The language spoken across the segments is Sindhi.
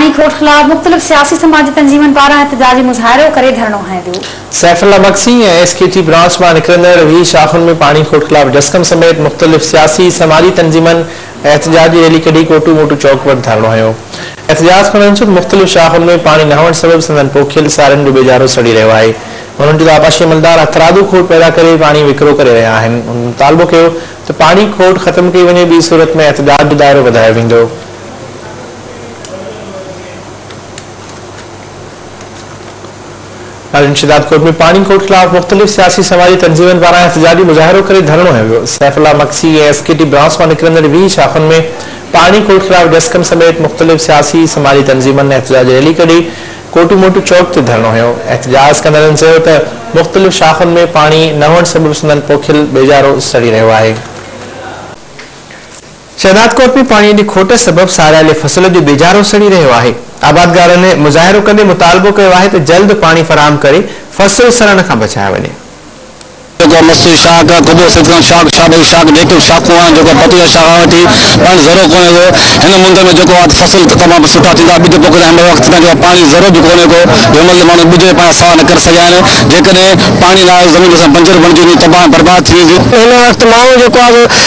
پاڻي کوٽ خلاف مختلف سياسي سماجي تنظيمن پاران احتجاجي مظاهرو ڪري ڌرڻو هنيو ويو. Saifullah Magsi ۽ S K T branch مان نڪرندڙ ويهه شاخن ۾ پاڻي کوٽ خلاف جسقم سميت مختلف سياسي سماجي تنظيمن احتجاجي ريلي ڪڍي ڪوٽو موٽو چوڪ وٽ ڌرڻو هنيو احتجاج ڪندڙن چيو ته مختلف شاخن ۾ پاڻي نه هئڻ سبب سندن پوکيل سارين جو ٻيجارو سڙي رهيو آهي انهن چيو ته آبپاشي عملدار هٿرادو کوٽ پيدا ڪري پاڻي وڪرو ڪري رهيا آهن انهن مطالبو ڪيو ته پاڻي کوٽ ختم ڪئي وڃي ٻي صورت ۾ احتجاج جو دائرو وڌايو ويندو. اڄ شهداد ڪوٽ ۾ پاڻي کوٽ خلاف مختلف سياسي سماجي تنظيمن پاران احتجاجي مظاهرو ڪري ڌرڻو هنيو ويو Saifullah Magsi ۽ S K T branch مان نڪرندڙ ويهه شاخن ۾ پاڻي کوٽ خلاف ڊسڪن سميت مختلف سياسي سماجي تنظيمن احتجاجي ريلي ڪڍي ڪوٽو موٽو چوڪ تي ڌرڻو هنيو احتجاج ڪندڙن چيو ته مختلف شاخن ۾ پاڻي نه هئڻ سبب سندن پوکيل ٻيجارو سڙي رهيو آهي شهدادڪوٽ ۾ پاڻي جي کوٽ سبب ساريل فصل جو بيجارو سڙي رهيو آهي، آبادگارن مظاهرو ڪندي مطالبو ڪيو آهي ته جلد پاڻي فراهم ڪري فصل سڙڻ کان بچايو وڃي. جيڪو مستي شاخ، خدو سيدخان شاخ، شاهدئي شاخ، ڊيڪل شاخون آهن جيڪو بتيء شاخ کان وٺي پاڻي ذرو ڪونهي ڪو. هن مند ۾ جيڪو آهي ته فصل ته تمام سٺا ٿيندا، ٻج پوکيندا آهن مگر وقت کان جيڪو آهي پاڻي ذرو به ڪونهي ڪو جو هن مند جا ماڻهو ٻج پنهنجا سوا نه ڪري سگهيا آهن، جيڪڏهن پاڻي نه آيو ته زمين اسان جي بنجر بڻجي ويندي تباهه ۽ برباد ٿي ويندي. هن وقت ماڻهو جيڪو آهي سو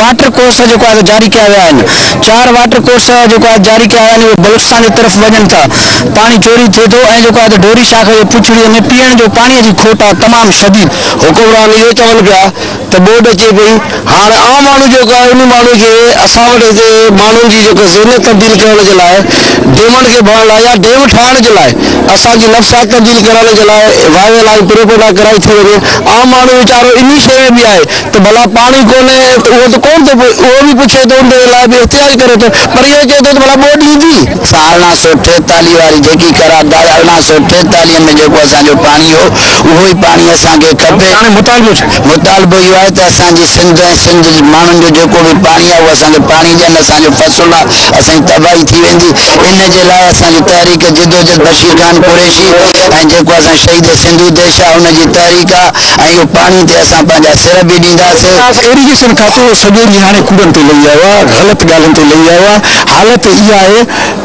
واٽر ڪورس جيڪو آهي جاري ڪيا ويا آهن چار واٽر ڪورس جيڪو آهي جاري ڪيا ويا آهن اهي بلوچستان جي طرف وڃن ٿا پاڻي چوري ٿئي ٿو ۽ جيڪو آهي ته ڍوري شاخ جي پڇڙي ۾ پيئڻ جو پاڻي جي کوٽ آهي تمام شديد. حڪمران اهو چون پيا ته ٻوڏ اچي پئي هاڻ عام ماڻهو جيڪو آهي انهي ماڻهو کي اسان وٽ هتي ماڻهن جي جيڪو ذهنيت تبديل ڪرڻ جي لاء ڊيمن کي ڀرڻ لاء يا ڊيم ٺاهڻ جي لاء اسان جي نفسيات تبديل ڪرڻ جي لاء وايو لائين پروپينڊا ڪرائي ٿي وڃي عام ماڻهو ويچارو انهي شيء ۾ به آهي ته ڀلا پاڻي ڪونهي ته اهو ته ڪونهن ٿو پئي، اهو به پڇي ٿو، انهيء لاء به احتجاج ڪري ٿو، پر اهو چئي ٿو ته ڀلا ٻوڏ ايندي؟ سان ارڙهن سؤ ٽيتاليهه واري جيڪي قرارداد ارڙهن سؤ ٽيتاليهه ۾ جيڪو اسان جو پاڻي هو، اهو ئي پاڻي اسان کي کپي. هاڻي مطالبو ڇا؟ مطالبو اهو آهي ته اسان جي سنڌ ۽ سنڌ جي ماڻهن جو جيڪو به پاڻي آهي، اهو اسان کي پاڻي ڏين، اسان جو فصل آهي، اسان جي تباهي ٿي ويندي، ان جي لاء اسان جي تحريڪ جدوجھد بشير خان قريشي ۽ جيڪو اسان شھيد سنڌو ديش آهي، ان جي تحريڪ آهي. ۽ اهو پاڻي تي اسان پنهنجا سر به ڏينداسين. ايريگيشن کاتو سڄو ڏينهن هاڻي ڪوڙن تي لهي آيو آهي، غلط ڳالهين تي لهي آيو آهي، حالت اها آهي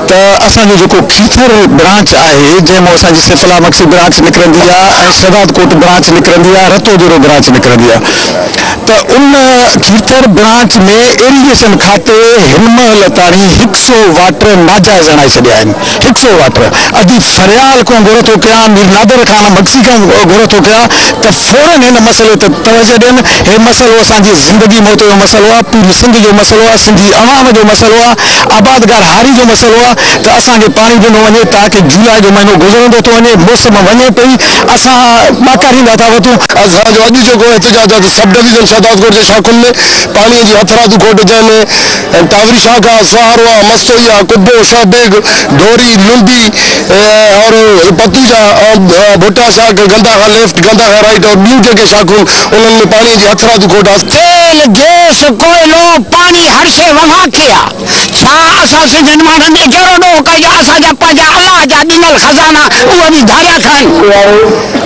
ته اسان جو جيڪو کيرٿر برانچ آهي جنهن مان اسان جي سيفلا مگسي برانچ نڪرندي آهي ۽ شهداد ڪوٽ برانچ نڪرندي آهي، رتو ديرو برانچ نڪرندي آهي ته ان کيرٿر برانچ ۾ ايريگيشن کاتي هن مهل تاڻي هڪ سئو واٽر ناجائز هڻائي ڇڏيا آهن. ٺڪ سو وات ر ادي فريال ڪون گهر ٿو ڪيان مير نادر خان مگسي کان گهر ٿو ڪيان ته فورن هن مسئلي ته توجه ڏين هي مسئلو اسان جي زندگي موت جو مسئلو آ پوري سنڌ جو مسئلو آ سنڌي عوام جو مسئلو آ آبادگار هاري جو مسئلو آ ته اسان کي پاڻي ڏنو وڃي تاڪه جولاء جو مهينو گذرندو ٿو وڃي موسم وڃي پئي اسان ٻاڪاريندا ٿا وتون. اسان جو اڄ جيڪو احتجاج آ ته سب ڊويزن شهدادڪوٽ جي شاخن ۾ پاڻي جي هٿرادو کوٽ جنهن ۾ ۽ ٽاوري شاخا، سهاروا، مستوئيا، قبو، شاه بيگ، ڍوري، لنڊي اور پتوجا، ڀٽا شاخ، گندا کان ليفٽ، گندا کان رائيٽ اور ٻيون جيڪي شاخون انهن ۾ پاڻيء جي هٿرادو کوٽ آسي. تيل، گيس، ڪوئلو، پاڻي هر شيء ووهان ٿئي ها. ڇا اسان سنڌين ماڻهن ايجهڙو ڏوهه ڪيو جو اسان جا پنهنجا الله جا ڏنل خزانا اهي به ڌاريا کائن.